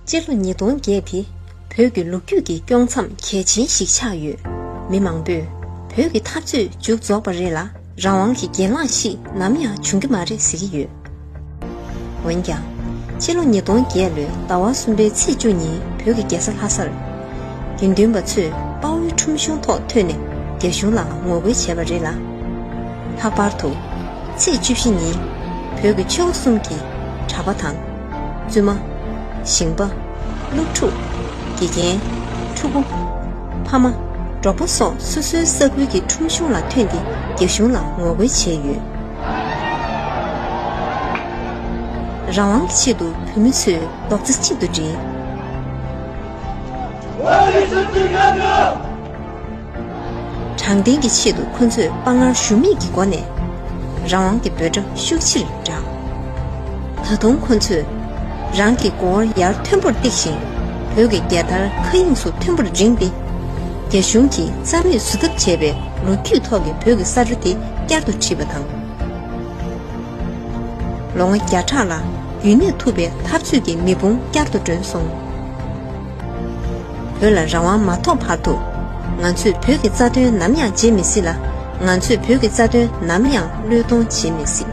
སྤྱི་ལོ་ཉིས་སྟོང་བརྒྱད་དེ་བོད་ཀྱི་ལོ་རྒྱུས་ཀྱི་དཀྱོག་མཚམས་གལ་ཆེན་ཞིག་ཆགས་ཡོད། མི་མང་པོས་བོད་ཀྱི་འཐབ་རྩོད་མཇུག་རྫོགས་པ་རེད་ལ་རང་དབང་གི་གྱེན་ལངས་ཤིག་ནམ་ཡང་འབྱུང་གི་མ་རེད་ཟེར་གྱི་ཡོད། འོན་ཀྱང། སྤྱི་ལོ་ཉིས་སྟོང་བརྒྱད་ལོའི་ཟླ་བ་གསུམ་པའི་ཚེས་བཅུ་ཉིན་བོད་ཀྱི་རྒྱལ་ས་ལྷ་སར། དགེ་འདུན་པ་ཚོས་དཔའ་བོའི་ཁྲོམ་གཞུང་ཐོག་ཐོན་ནས་རྒྱ་གཞུང་ལ་ངོ་རྒོལ་བྱས་པ་རེད་ལ། ལྷག་པར་དུ། ཚེས་བཅུ་བཞི་ཉིན། བོད་ཀྱི་ཆོལ་ཁ་གསུམ་གྱིས་གྲྭ་པ་དང། བཙུན་མ། ཞིང་པ། སློབ་ཕྲུག། དགེ་རྒན། ཕྲུ་གུ། ཕ་མ། འབྲོག་པ་སོགས་སོ་སོའི་ས་ཁུལ་གྱི་ཁྲོམ་གཞུང་ལ་ཐོན་ཏེ་རྒྱ་གཞུང་ལ་ངོ་རྒོལ་བྱས་ཡོད། རང་དབང་གི་ཆེད་དུ་བོད་མི་ཚོས་རྡོག་རྩ་གཅིག་ཏུ་སྒྲིལ། དྲང་བདེན་གྱི་ཆེད་དུ་ཁོ་ཚོས་དཔའ་ངར་ཞུམ་མེད་ཀྱི་སྒོ་ནས་རང་དབང་གི་འབོད་སྒྲ་ཤུགས་ཆེར་བསྒྲགས། ད་དུང་ཁོ་ཚོས་རང་གི་མགོ་བོར་ཡར་མཐོན་པོར་བཏེགས་ཤིང་བོད་ཀྱི་རྒྱལ་དར་མཁའ་དབྱིངས་སུ་མཐོན་པོར་བསྒྲེངས་ཏེ། རྒྱ་གཞུང་གིས་རྩ་མེད་བཟོ་ཐབས་བྱས་པའི་ལོ་རྒྱུས་ཐོག་གི་བོད་ཀྱི་ས་རུ་དེ་བསྐྱར་དུ་བྲིས་པ་དང། ལོ་ངོ་བརྒྱ་ཕྲག་ལ་རྒྱུན་གནས་ཐུབ་པའི་འཐབ་རྩོད་ཀྱི་མེ་དཔུང་བསྐྱར་དུ་བསྒྲོན་སོང། བོད་ལ་རང་དབང་མ་ཐོབ་བར་དུ། ང་ཚོས་བོད་ཀྱི་རྩ་དོན་ནམ་ཡང་བརྗེད་མི་སྲིད་ལ། ང་ཚོས་བོད་ཀྱི་རྩ་དོན་ནམ་ཡང་བློས་གཏོང་བྱེད་མི་སྲིད།